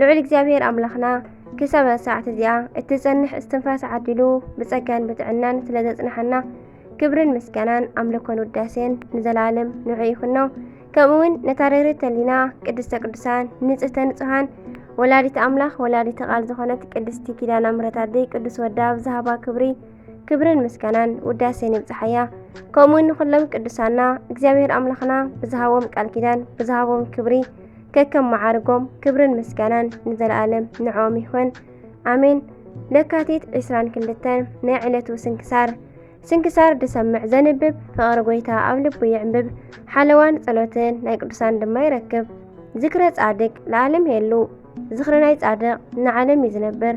ልዑል እግዚኣብሔር ኣምላኽና ክሳብ ሰዓት እዚኣ እትጸንሕ እስትንፋስ ዓዲሉ ብጸጋን ብጥዕናን ስለ ዘጽንሓና ክብርን ምስጋናን ኣምልኮን ውዳሴን ንዘለኣለም ንዑ ይኹኖ። ከምኡውን ነታ ርህርት ተሊና ቅድስተ ቅዱሳን ንጽህተ ንጹሃን ወላዲት ኣምላኽ ወላዲት ቃል ዝኾነት ቅድስቲ ኪዳና ምሕረት ኣደይ ቅዱስ ወዳ ኣብ ዝሃባ ክብሪ ክብርን ምስጋናን ውዳሴን ይብጽሓያ። ከምኡውን ንኹሎም ቅዱሳና እግዚኣብሔር ኣምላኽና ብዝሃቦም ቃል ኪዳን ብዝሃቦም ክብሪ ከከም መዓርጎም ክብርን ምስጋናን ንዘለኣለም ንዕኦም ይኹን ኣሜን። ለካቲት 22 ናይ ዕለቱ ስንክሳር ስንክሳር ድሰምዕ ዘንብብ ፍቕሪ ጎይታ ኣብ ልቡ ይዕምብብ፣ ሓለዋን ጸሎትን ናይ ቅዱሳን ድማ ይረክብ። ዝክረ ጻድቅ ለዓለም የሉ፣ ዝኽሪ ናይ ጻድቕ ንዓለም እዩ ዝነብር።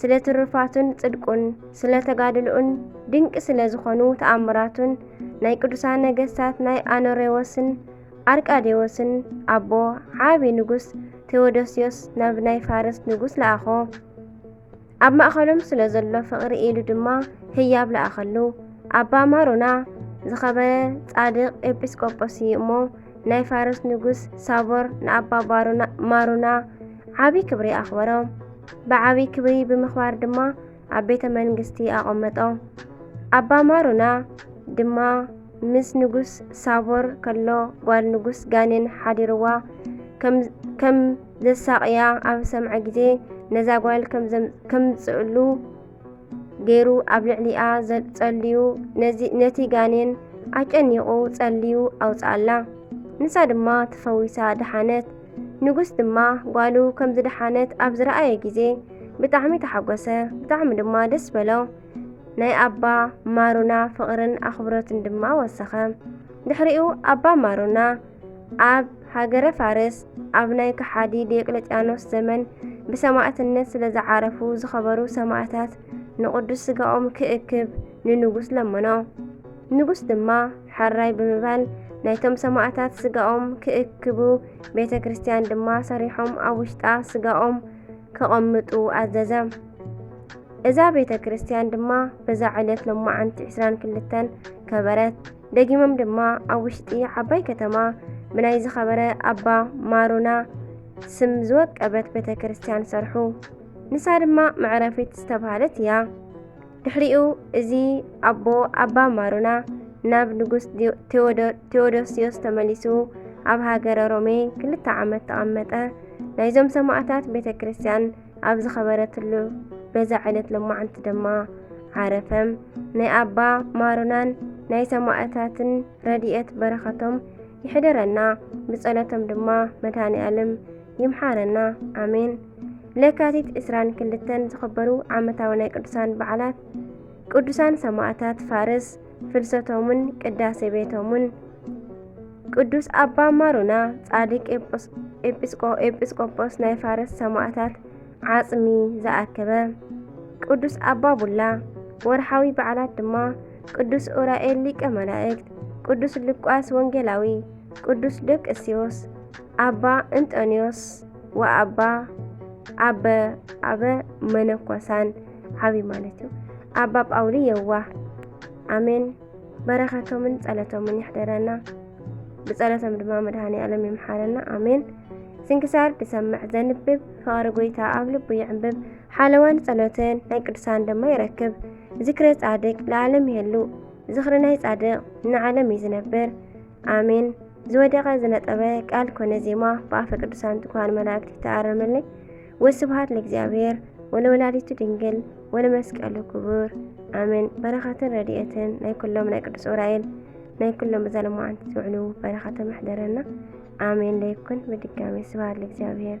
ስለ ትሩፋቱን ጽድቁን ስለ ተጋድልኡን ድንቂ ስለ ዝኾኑ ተኣምራቱን ናይ ቅዱሳን ነገስታት ናይ ኣኖሬዎስን ኣርቃዴዎስን ኣቦ ዓቢ ንጉስ ቴዎዶስዮስ ናብ ናይ ፋርስ ንጉስ ለኣኾ ኣብ ማእኸሎም ስለ ዘሎ ፍቕሪ ኢሉ ድማ ህያብ ለኣኸሉ ኣባ ማሮና ዝኸበረ ጻድቕ ኤጲስቆጶስ እዩ እሞ ናይ ፋርስ ንጉስ ሳቦር ንኣባ ማሩና ዓቢ ክብሪ ኣኽበሮም ብዓቢ ክብሪ ብምኽባር ድማ ኣብ ቤተ መንግስቲ ኣቐመጦም ኣባ ማሩና ድማ ምስ ንጉስ ሳቦር ከሎ ጓል ንጉስ ጋኔን ሓዲርዋ ከም ዘሳቕያ ኣብ ሰምዐ ግዜ ነዛ ጓል ከምዝምፅእሉ ገይሩ ኣብ ልዕሊኣ ጸልዩ ነቲ ጋኔን ኣጨኒቑ ጸልዩ ኣውጽኣላ። ንሳ ድማ ተፈዊሳ ደሓነት። ንጉስ ድማ ጓሉ ከም ዝደሓነት ኣብ ዝረኣየ ግዜ ብጣዕሚ ተሓጎሰ፣ ብጣዕሚ ድማ ደስ በሎ። ናይ ኣባ ማሩና ፍቕርን ኣኽብሮትን ድማ ወሰኸ። ድሕሪኡ ኣባ ማሩና ኣብ ሃገረ ፋርስ ኣብ ናይ ከሓዲ ዲዮቅለጥያኖስ ዘመን ብሰማእትነት ስለ ዝዓረፉ ዝኸበሩ ሰማእታት ንቕዱስ ስጋኦም ክእክብ ንንጉስ ለመኖ። ንጉስ ድማ ሐራይ ብምባል ናይቶም ሰማእታት ስጋኦም ክእክቡ ቤተ ክርስቲያን ድማ ሰሪሖም ኣብ ውሽጣ ስጋኦም ከቐምጡ ኣዘዘ። እዛ ቤተ ክርስቲያን ድማ በዛ ዕለት ሎማዓንቲ 22 ከበረት። ደጊሞም ድማ ኣብ ውሽጢ ዓባይ ከተማ ብናይ ዝኸበረ ኣባ ማሩና ስም ዝወቀበት ቤተ ክርስቲያን ሰርሑ። ንሳ ድማ መዕረፊት ዝተባሃለት እያ። ድሕሪኡ እዚ ኣቦ ኣባ ማሩና ናብ ንጉስ ቴዎዶስዮስ ተመሊሱ ኣብ ሃገረ ሮሜ ክልተ ዓመት ተቐመጠ። ናይዞም ሰማእታት ቤተ ክርስቲያን ኣብ ዝኸበረትሉ በዛ ዓይነት ለማዓንቲ ድማ ዓረፈም ናይ ኣባ ማሩናን ናይ ሰማእታትን ረድኤት በረኸቶም ይሕደረና ብጸሎቶም ድማ መድሃኒ ኣለም ይምሓረና ኣሜን ለካቲት 2 ክልተን ዝኸበሩ ዓመታዊ ናይ ቅዱሳን በዓላት ቅዱሳን ሰማእታት ፋርስ ፍልሰቶምን ቅዳሴ ቤቶምን ቅዱስ ኣባ ማሩና ጻድቅ ኤጲስቆጶስ ናይ ፋርስ ሰማእታት ዓጽሚ ዝኣከበ ቅዱስ ኣባ ቡላ ወርሓዊ በዓላት ድማ ቅዱስ ኡራኤል ሊቀ መላእክት፣ ቅዱስ ሉቃስ ወንጌላዊ፣ ቅዱስ ደቅስዮስ፣ ኣባ እንጦንዮስ ወኣባ ኣበ ኣበ መነኮሳን ዓብይ ማለት እዩ ኣባ ጳውሊ የዋህ ኣሜን በረኸቶምን ጸለቶምን ይሕደረና ብጸለቶም ድማ መድሃኒ ኣለም ይምሓረና ኣሜን ስንክሳር ድሰምዕ ዘንብብ ፍቕሪ ጎይታ ኣብ ልቡ ይዕንብብ ሓለዋን ጸሎትን ናይ ቅዱሳን ድማ ይረክብ ዝክረ ጻድቅ ለዓለም ይህሉ ዝኽሪ ናይ ጻድቅ ንዓለም እዩ ዝነብር ኣሜን ዝወደቐ ዝነጠበ ቃል ኮነ ዜማ ብኣፈ ቅዱሳን ትኳን መላእክት ይተኣረመለይ ወስብሃት ንእግዚኣብሔር ወለወላዲቱ ድንግል ወለመስቀሉ ክቡር ኣሜን። በረኸትን ረድኤትን ናይ ኩሎም ናይ ቅዱስ ዑራኤል ናይ ኩሎም በዛ ለማዓንቲ ዝውዕሉ በረኸተ መሕደረና ኣሜን ለይኩን። ብድጋሚ ስብሃት ለእግዚኣብሔር።